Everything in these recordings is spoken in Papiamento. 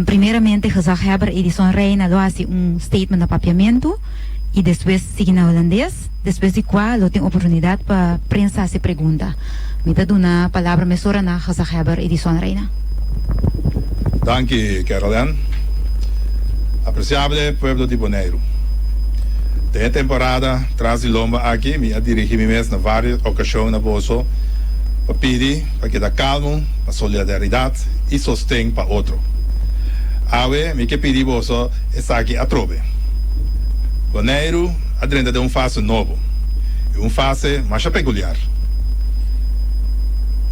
Primeramente gezaghebber Edison Reina lo hasi un statement na Papiamentu y despues sigui na Holandes, despues di cua lo tin oportunidad pa prensa haci pregunta. Mi ta duna palabra mesora na gezaghebber Edison Reina. Danki Carol Ann. Apreciabele pueblo di Boneiru. Den e temporada tras di lomba aki mi a dirigi mi mes na varios ocasion na boso pa pidi, pa keda kalmu, pa solidaridad y sosten pa otro. Awe mi ke pidi boso esaki atrobe. Boneiru a drenta den un fase nobo y un fase masha peculiar.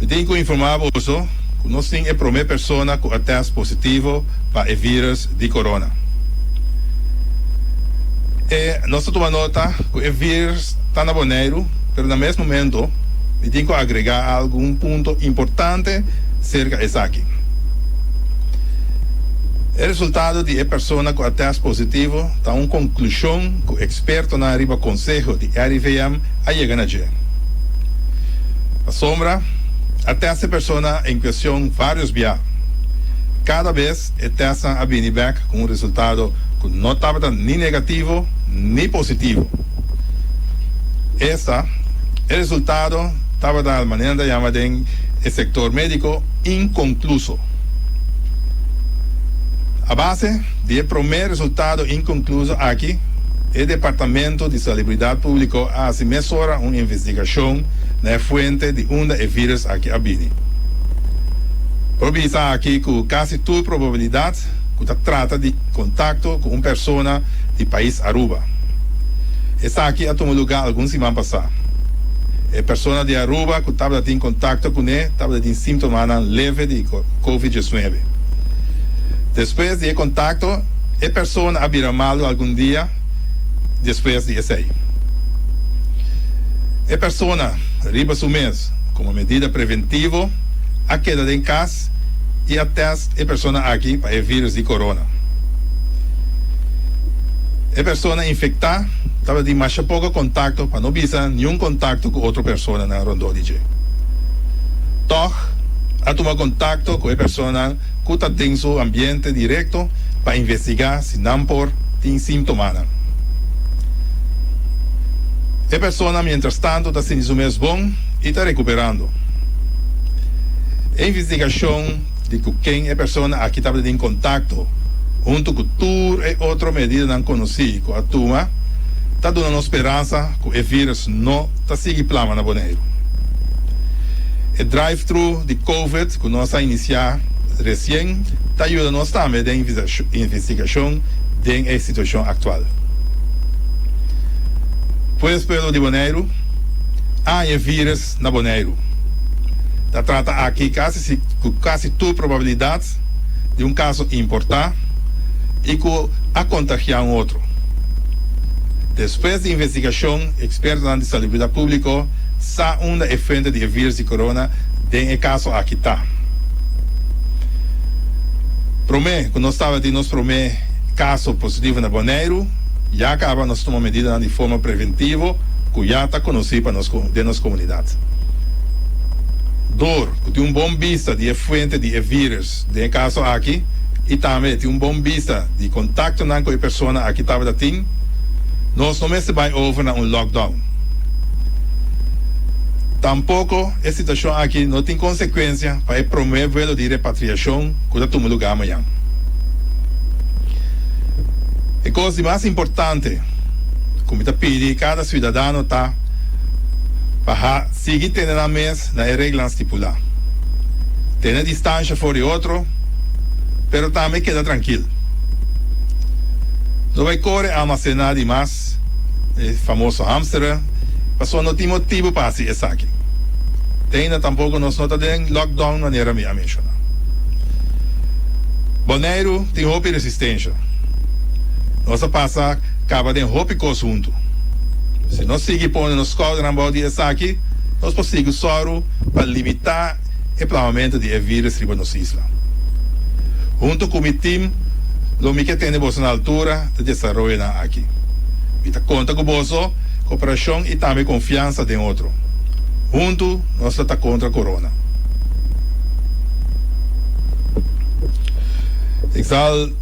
Mi tin cu informa boso cu nos tin e prome persona cu a test positivo pa e virus di corona. E nos ta tuma nota cu e virus. ta na Boneiru, pero na mes momento mi tin ku agregá algun punto importante serka esaki. E resultado di e persona ku a tèst positivo ta un konklushon ku ekspertonan riba konseho di RIVM a yega na dje. Pasobra a tèst e persona en kuestion vários bia, kada bes e tèstnan a bini bèk ku un resultado ku no tabata ni negativo ni positivo. Esta e resultado tabata al manera ta yama den e sector medico inconcluso. A base di e prome resultado inconcluso aki e Departamento di Salubridad Publico a haci mesora un investigacion na e fuente di unda e virus aki a bini. Por bisa aki cu casi tur probabilidad Act cu ta trata di contacto cu un persona di pais Aruba. Esaki a tuma lugar algun siman pasá. E persona di Aruba cu tabata tin contacto cuné tabata tin simptomanan leve di covid diesnuebe. Despues di e contacto, e persona a bira malu algun dia despues di esey. E persona riba su mes, como medida preventivo, a keda den cas. test y a test e persona aki pa e virus di corona. E persona infecta tabatin masha poco contacto pa no bisa niun contacto cu otro personanan rondó di dje. Tog a tuma contacto cu e personanan cu ta den su ambiente directo pa investiga si nan por tin simptomanan. E persona mientras tanto ta sinti su mes bon. I ta rekuperando. E investigashon di ku ken e persona aki tabata den kontakto huntu ku tur e otro medidanan konosí ku a tuma ta duna nos speransa ku e vírus no ta sigui plama na Boneiru. E drive-thru di Covid ku nos a inisiá resien ta yuda nos tambe den investigashon den e situashon aktual. Puesto di Boneiru. Aye virus na Boneiru ta trata aki casi si cu casi tur probabilidad di un caso importa y cu a contagia un otro. Despues di investigacion expertonan di Salubrida Publico sa unda e fuente di e virus di corona den e caso aki ta. Prome cu nos tabatin nos prome caso positivo na Boneiru. Ya kaba nos tuma medidanan di forma preventivo ku ya ta konosí pa nos den nos komunidat. Dor ku tin un bon bista di e fuente di e vírus den e kaso aki i tambe tin un bon bista di kontaktonan ku e persona aki tabata tin, nos no mester bai over na un lockdown. Tampoko e situashon aki no tin konsekuensia pa e promé vuelo di repatriashon. ku ta tuma lugá mañan. E kos di mas importante ku mi ta pidi kada siudadano ta pa a sigui tene nan mes na e reglanan stipulá, tene distansha for di otro, pero tambe keda trankil. No bai kore almasená di mas. e famoso hamstera, pasobra no tin motibu pa hasi esaki. Te ainda tampoco nos no ta den lockdown manera mi a menciona. Boneiru tin hopi resistencia. Nos a pasa caba den hopi cos huntu. Si nos sigui pone nos scoldernan bou di esaki, nos por sigui soru pa limita. e plamamentu di e virus riba nos isla. Huntu ku mi tim lo mi ke tene boso na altura di desaroyonan aki. Mi ta konta ku boso koperashon i tambe konfiansa den otro. Huntu nos lo ta kontra corona. Exal.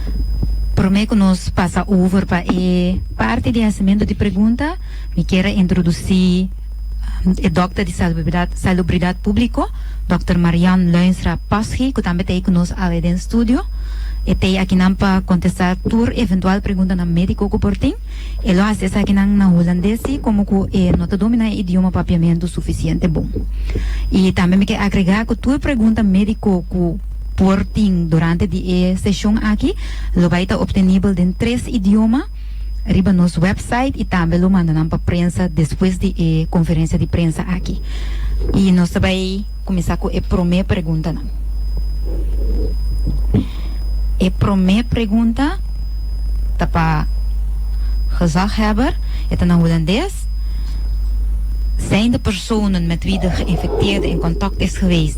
Prome cu nos pasa over pa e parti di hacimentu di pregunta, mi kier a introduci e dokter di Salubridad Publico, Dokter Marian Luijnstra Paschi, cu tambe ta ei cu nos awe den studio. E ta ei akinan pa contesta tur eventual preguntanan medico cu por tin. E lo haci esakinan na Hulandes si como cu e no ta domina e idioma papiamentu suficiente bon. Y tambe mi ke agrega cu tur pregunta medico cu. Por tin durante di e seshon aki lo bai ta optenibel den tres idioma riba nos wèpsait i tambe lo manda nan pa prensa despues di e konferensia di prensa aki. I nos ta bai kuminsá ku e promé preguntanan. E promé pregunta ta pa gezaghebber, e ta na Hulandes, Zijn de personen met wie de geïnfecteerde in contact is geweest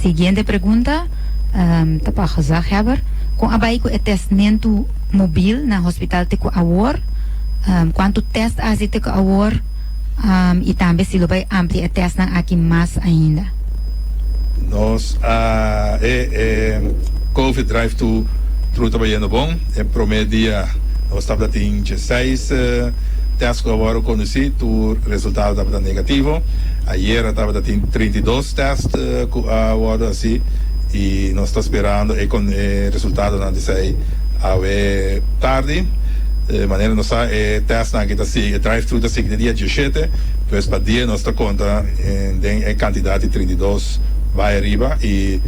Siguiente pregunta ta pa gezaghebber, Kon a bai ku e testmentu mobil na hospital te ku awor? Kuantu test a hasi te ku awor i tambe si lo bai amplia e testnan aki mas ainda? Nos a e Covid drive thu thru ta bayendo bon. E prome dia nos tabata tin dieseis test ku awor a kondusi tur resultado tabata negativo. Ayera tabata tin trinta i dos test cu a wordo haci y nos ta sperando e resultadonan di esey awe tardi. Di manera nos sa e testnan aki ta sigui, e drive-thru ta sigui di dia diecisiete, pues pa dies nos ta conta den e cantidad di trinta i dos bay ariba y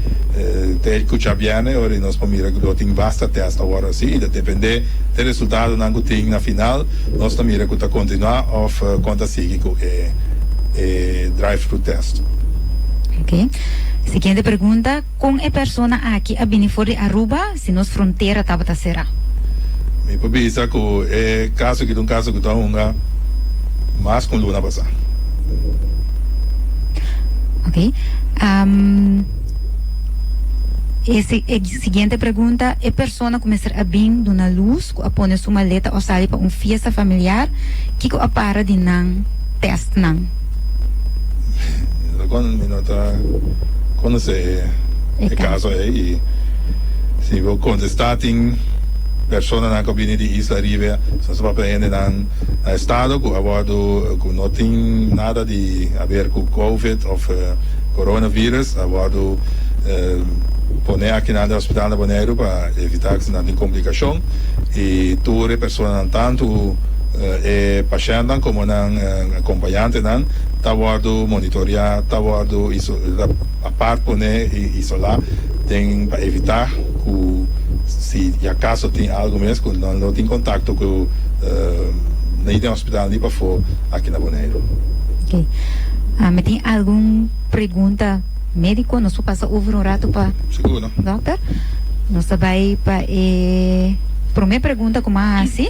te cucha bierne ora nos por mira lo tin vasta test a wordo haci y ta depende di e resultadonan cu tin na final. Nos ta mira cu ta continua of con ta sigui cu e e drive-thru test. Ok. Siguiente pregunta, Con e persona aki a bini for di Aruba si nos frontera tabata cera? Mi por bisa cu e caso aki ta un caso cu ta hunga mas cu un luna pasa. Ok. E. Siguiente pregunta, E persona cu mester a bin duna luz, cu a pone su maleta o sali pa un fiesta familiar, kico a para di nan testnan? Esta con mi no ta conoce e caso ey y si bo contesta tin personanan cu a bini di Isla Ribe, esnan su papia hendenan. na estado cu a wordo cu no tin nada di haber cu covid of coronavirus a wordo pone akinan den hospital na Boneiru pa evita cu esnan tin complicacion y tur e personanan tanto e pashentnan como nan acompañantenan ta wordo monitorea ta wordo iso. Apart pone i isolá den pa evitá ku si i akaso tin algu mes ku nan lo tin kontakto ku nei den hospital ni pafó aki na Boneiru. Oké. Mi tin algun pregunta médiko. Nos por pasa over un ratu pa. Seguro. Dòkter. Nos ta bai pa e promé pregunta ku mi a hasi.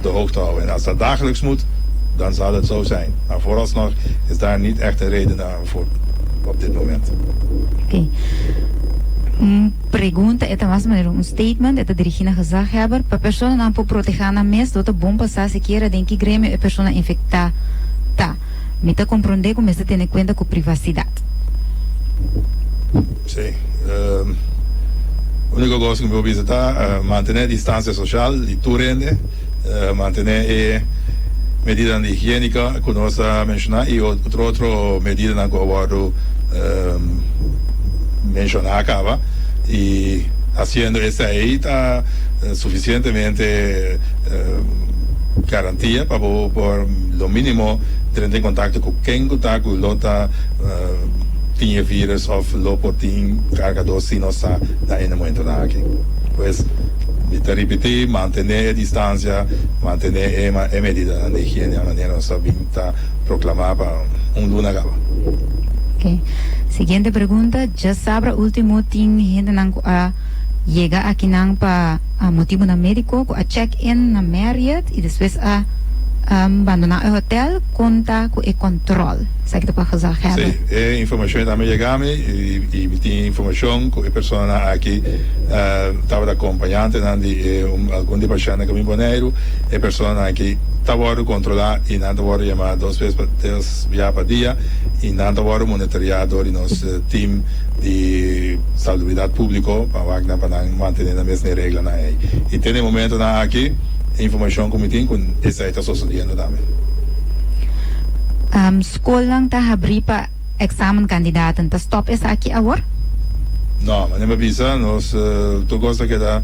de hoogte houden. En als dat dagelijks moet, dan zal het zo zijn. Maar vooralsnog is daar niet echt een reden voor op dit moment. Oké. Un pregunta e ta mas manera un statement, e ta dirigí na gezaghebber, pa personanan por protegá nan mes, lo ta bon pa sa sikiera den ki gremio e persona infectá ta. Mi ta comprondé cu mester tene cuenta cu privacidad. Sí. Úniko kos ku mi por bisa ta mantené distansia sosial di tur hende, mantené e medidanan di higiéniko ku nos a menshoná i otro otro medidanan ku a wòrdu menshoná kaba. I hasiendo esei ta sufisientemente garantia pa bo por lo mínimo trenta en kontakto ku ken ku ta ku lo ta. tin e virus of lo por tin cargador si nos ta na e momentonan aki. Pues mi ta ripiti, mantene e distancia, mantene e medidanan di higiene a manera nos a bin ta proclama pa un luna caba. Ok. Siguiente pregunta, Djasabra ultimo tin hendenan cu a yega akinan pa motibonan medico cu a check in na Marriott y despues a bandona e hotel, con ta cu e control? Esaki ta pa gezegdheid. Sí, e informacion a tambe yega mi y mi tin informacion cu e personanan aki tabata acompañantenan di e algun di e pashentnan cu mi Boneiru. E personanan aki ta wordo controla y nan ta wordo yama dos bes pa tres bia pa dia y nan ta wordo monitorea door di nos team di Salubridad Publico pa wak nan pa nan mantene nan mes n'e reglanan ey. Y te n'e momentonan aki e informacion cu mi tin cu esaki. E ta sosodiendo tambe. Skolnan ta habrí pa examen candidaten. Ta stop esaki awor? No, manera mi bisa, nos tur cos ta keda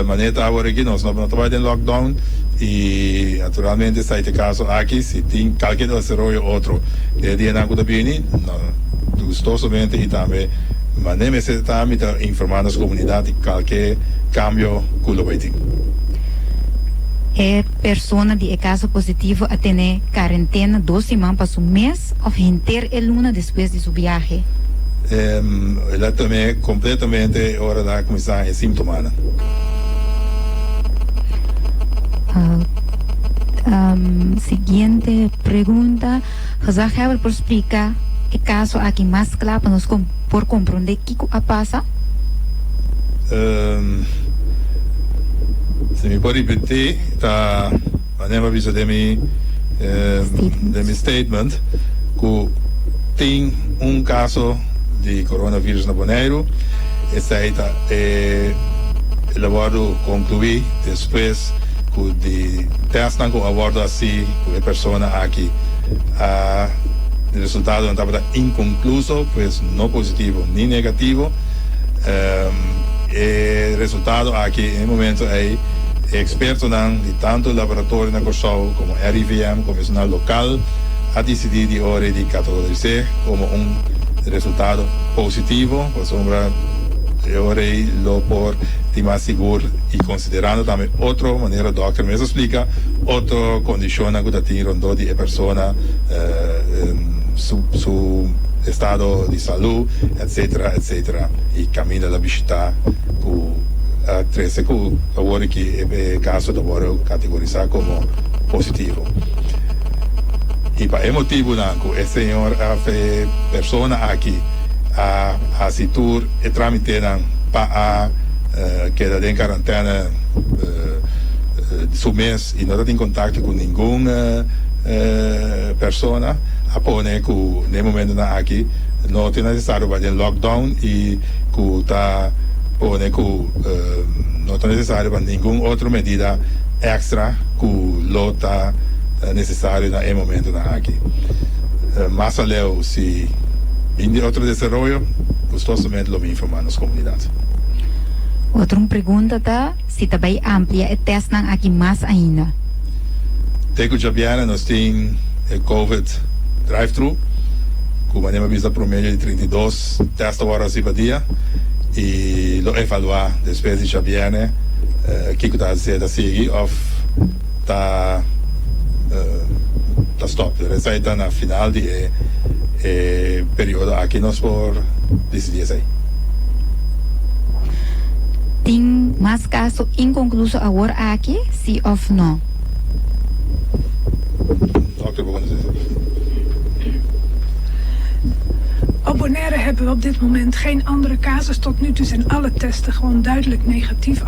manera e ta awor aki. Nos no ta bai den lockdown y naturalmente esta y te caso aki. Si tin calkier desaroyo otro e dianan cu ta bini, no, gustosamente y tambe manera mester ta ta, mi ta informa nos comunidad di calkier cambio cu lo bay tin. Persona di e caso positivo a tene carentena dos siman pa su mes of henter e luna despues di su biahe. El a tene completamente ora nan a cuminsa e simptomanan. Siguiente pregunta. Gezagheber por splica e caso aki mas cla pa nos por compronde kico a pasa? Ehm, si mi por ripeti ta manera pa bisa den mi, ehm, den mi statement cu tin un caso di coronavirus na Boneiru, esai ta e lo wordo conclui despues cu di testnan cu a wordo haci. Ku e persona aki a e resultadonan tabata inkonkluso, pues no positivo ni negativo, e resultado aki e momento ei e ekspertonan di tantu laboratorio na Kòrsou komo RIVM komo personal lokal a disidí di ora di katalogis'é komo un resultado positivo pasobra e ora ei lo por tin mas sigur i. Considerando tambe otro manera dokter mes a splica otro condicionnan cu ta tin rondó di e persona, su estado di salud, etc. Etc. Y caminda la bishita cu trece cu ta worde cu e caso ta worde categoriza como positivo. Y pa e motibonan cu e señor of e persona aki a haci tur e tramitenan pa a. keda den karantèna su mes y no ta tin contacto cu ningun persona a pone cu na e momentonan aki no ta necesario bay den lockdown y cu ta pone cu no ta necesario pa ningun otro medida extra cu lo ta necesario na e momentonan aki. Mas aleu si bin di otro desaroyo gustosamente lo mi informa nos comunidad. Otro un pregunta ta si ta bay amplia e testnan aki mas ainda. Te cu djabiera nos tin e Covid drive-thru cu manera mi bisa promedio di trinta i dos test awor pa dia y lo evalua despues di djabiera kico ta hacer ta sigui of. ta ta stop dor esai ta na final di e e periodo aki nos por disidi esei. Tin mas kaso inkonkluso awor aki si òf no? Dòkter bo konosé esaki. Op Bonaire hebben we op dit moment geen andere casus. Tot nu toe zijn alle testen gewoon duidelijk negatief.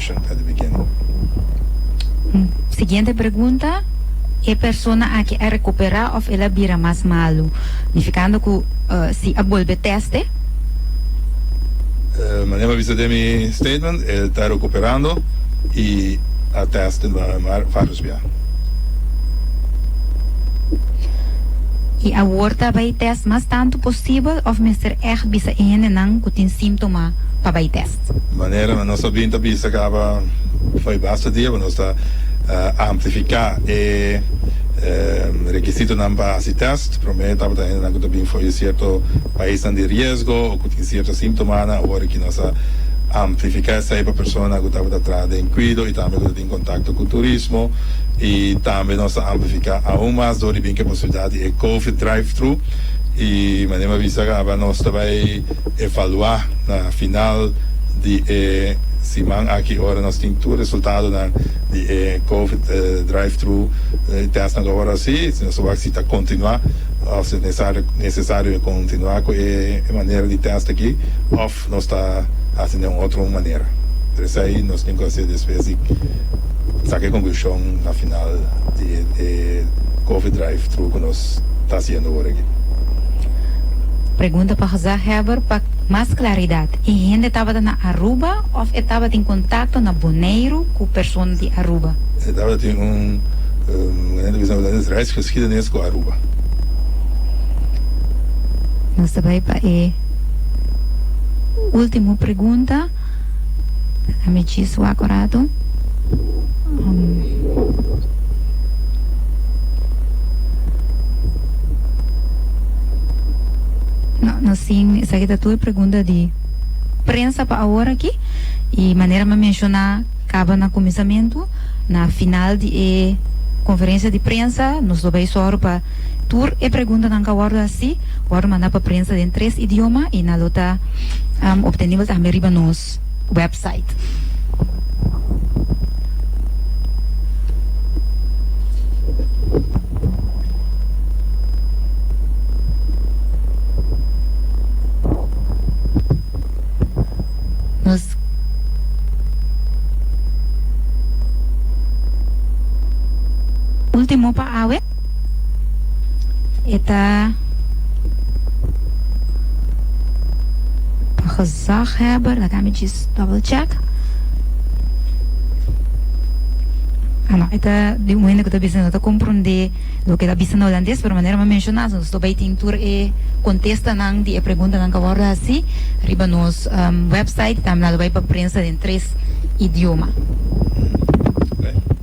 Station at the beginning. Siguiente pregunta, E persona aki a recupera of el a bira mas malu? Nificando cu si a bolbe teste? Mane bo a bisa den mi statement, e ta recuperando y a teste maar varios bia. Y awor ta bay test mas tanto posibel of mester echt bisa e hendenan cu tin symptoma pa bay test? Manernan nos a bin ta bisa caba fo'i basta dia pa nos ta amplifica e requisitonan pa haci test. Prome tabata hendenan cu ta bin fo'i cierto paisnan di riesgo o cu tin cierto sintomanan. Awor aki nos a amplifica esai pa personanan cu tabata traha den cuido y tambe cu ta tin contacto cu turismo. Y tambe nos ta amplifica aun mas dor di bin caba ciudad di e Covid drive-thru. Y mane mi a bisa caba nos ta bay. evaluá na final di e siman aki ora nos tin tur resultadonan di e covid drive-thru tèstnan lo ora así si nos ta wak si ta kontinuá òf si nesario nesesario kontinuá ku e manera di tèst aki òf nos ta hasi den un otro manera. Pero esei nos tin ku hasi despues di. Saca e conclusion na final di e coffee drive through cu nos ta haciendo ora aki. Pregunta pa gezaghebber pa mas claridad, e hende tabata na Aruba of e tabatin contacto na Boneiru cu persona di Aruba? E tabatin un manera di bisa holandés reisgeschiedenis cu Aruba. Nos ta bay pa e ultimo pregunta. Déjame chis wak un ratu. No, no sin. Esaki ta tur e pregunta di prensa pa awor aki. I manera mi a menshoná kaba na kuminsamentu, na final di e konferensia di prensa nos lo bai sòru pa. Tur e preguntanan ka wòrdu hasí, wòrdu mandá pa prensa den tres idioma i nan lo ta obtenibel tambe riba nos wèpsait. Último pa awe. E ta pa gezaghebber, laat mij eens double check. Ah, no, e ta di un hende ku ta bisa no ta komprondé loke e ta bisa na holandés, pero manera mi a menshoná, nos lo bai tin tur e kontestanan di e preguntanan ku a wòrdu hasí riba nos wèpsait i tambe nan lo bai pa prensa den tres idioma.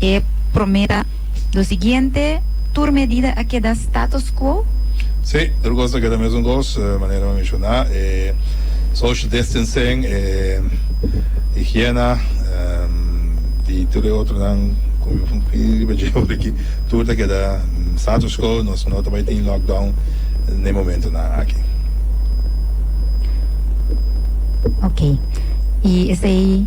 E promera lo siguiente, tur medida a keda status quo. Sí, tur cos ta keda mesun cos, manera mi a menciona, e social distancing, e higiena, y tur e otronan cu mi a riba djeba por aki, tur ta keda status quo, nos no ta bay tin lockdown den e momentonan aki. Ok, y esey.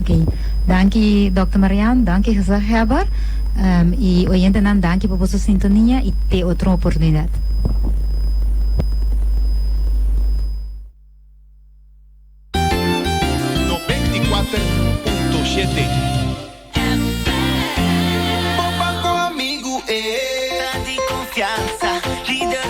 Oké, danki Dòkter Marian, danki gezaghèber, i oyentenan danki pa boso sintonia i te otro oportunidat.